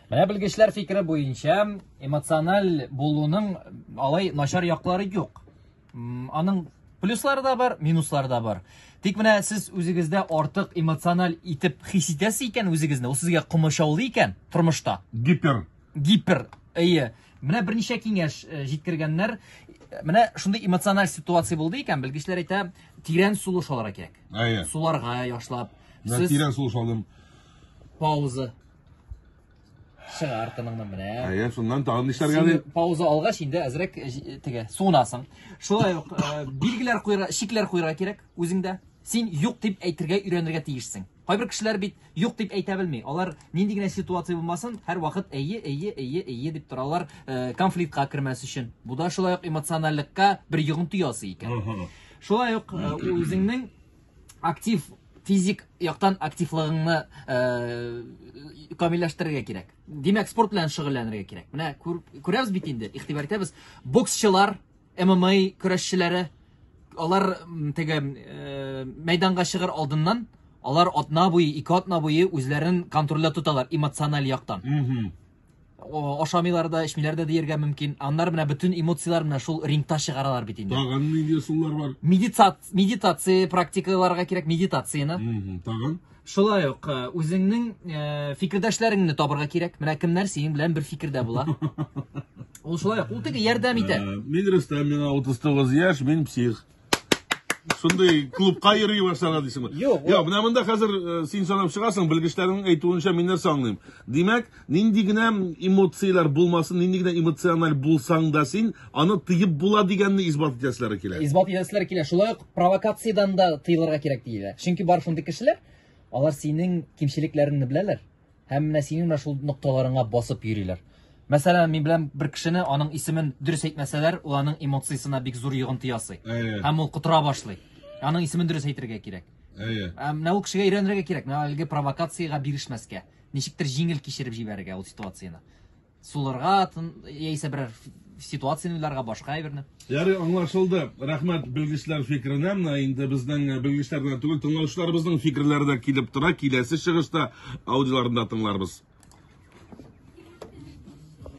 Менә белгечләр фикере буенча, эмоциональ булуның алай начар яклары юк. Аның плюслары да бар, минуслары да бар. Тик менә сез үзегездә артык эмоциональ итеп хис итәсез икән үзегезне, ул сезгә комачаулы икән тормышта. Гипер. Гипер. Әйе. Менә берничә киңәш э, җиткергәннәр. Менә шундый эмоциональ ситуация булды икән, белгечләр әйтә, тирән сулыш алырга кирәк. Әйе. Суларга яшлап. Сез... Тирән сулыш алдым. Пауза. Чыгар тыныңны менә. Әйе, шуннан тагын нишләргә ди? Пауза алгач инде әзрәк э, э, теге суынасың. Шулай ук э, билгеләр куйра, шикләр куйра кирәк үзеңдә. Син юк дип әйтергә өйрәнергә тиешсең. Кайбер кешеләр бит юк дип әйтә белми. Алар нинди генә ситуация булмасын, һәр вакыт әйе, әйе, әйе, әйе дип торалар, конфликтка кермәс өчен. Бу да шулай ук эмоциональлекка бер йогынты ясый икән. Шулай ук үзеңнең актив физик яктан активлыгыңны э, камилләштерергә кирәк. Димәк, спорт белән шөгыльләнергә кирәк. Менә күрәбез бит инде, игътибар итәбез. Боксчылар, ММА көрәшчеләре, алар теге э, мәйданга чыгыр алдыннан алар атна буе, ике атна буе үзләрен контрольдә тоталар эмоциональ яктан. ашамыйлар да, эчмиләр дә диергә мөмкин. Аннар менә бөтен эмоцияләр менә шул рингта чыгаралар бит инде. Тагын нинди ысуллар бар? Медитация, медитация практикаларга кирәк медитацияне. Тагын Шулай ук э, үзеңнең э, фикердәшләреңне табырга кирәк. Менә кемнәр синең белән бер фикердә була. Ул шулай ук, ул теге ярдәм итә. Э, мин Рөстәм, миңа 39 яшь, мин псих. Шундый клубка йөри башларга дисең. Юк. Юк, менә монда хәзер э, син санап чыгасың, белгечләрнең әйтүенчә мин нәрсә аңлыйм. Димәк, нинди генә эмоцияләр булмасын, нинди генә эмоциональ булсаң да син, аны тыеп була дигәнне исбат итәселәре килә. Исбат итәселәре килә. Шулай ук провокациядән дә тыелырга кирәк диелә. Чөнки бар шундый кешеләр, алар синең кимчелекләреңне беләләр. Һәм менә синең менә шул нокталарыңа басып йөриләр. Мәсәлән, мин беләм бер кешене, аның исемен дөрес әйтмәсәләр, ул аның эмоциясенә бик зур йогынты ясый. Әйе. Һәм ул котыра башлый. Аның исемен дөрес әйтергә кирәк. Әйе. Ә менә ул кешегә өйрәнергә кирәк, менә әлеге провокациягә бирешмәскә. Ничектер җиңел кичереп җибәрергә ул ситуацияне. сулырга яисә берәр ситуацияне уйларга башка әйберне ярый аңлашылды рәхмәт белгечләр фикеренә менә инде безнең э, белгечләр генә түгел тыңлаучыларыбызның фикерләре дә килеп тора киләсе чыгышта аудиоларында тыңларбыз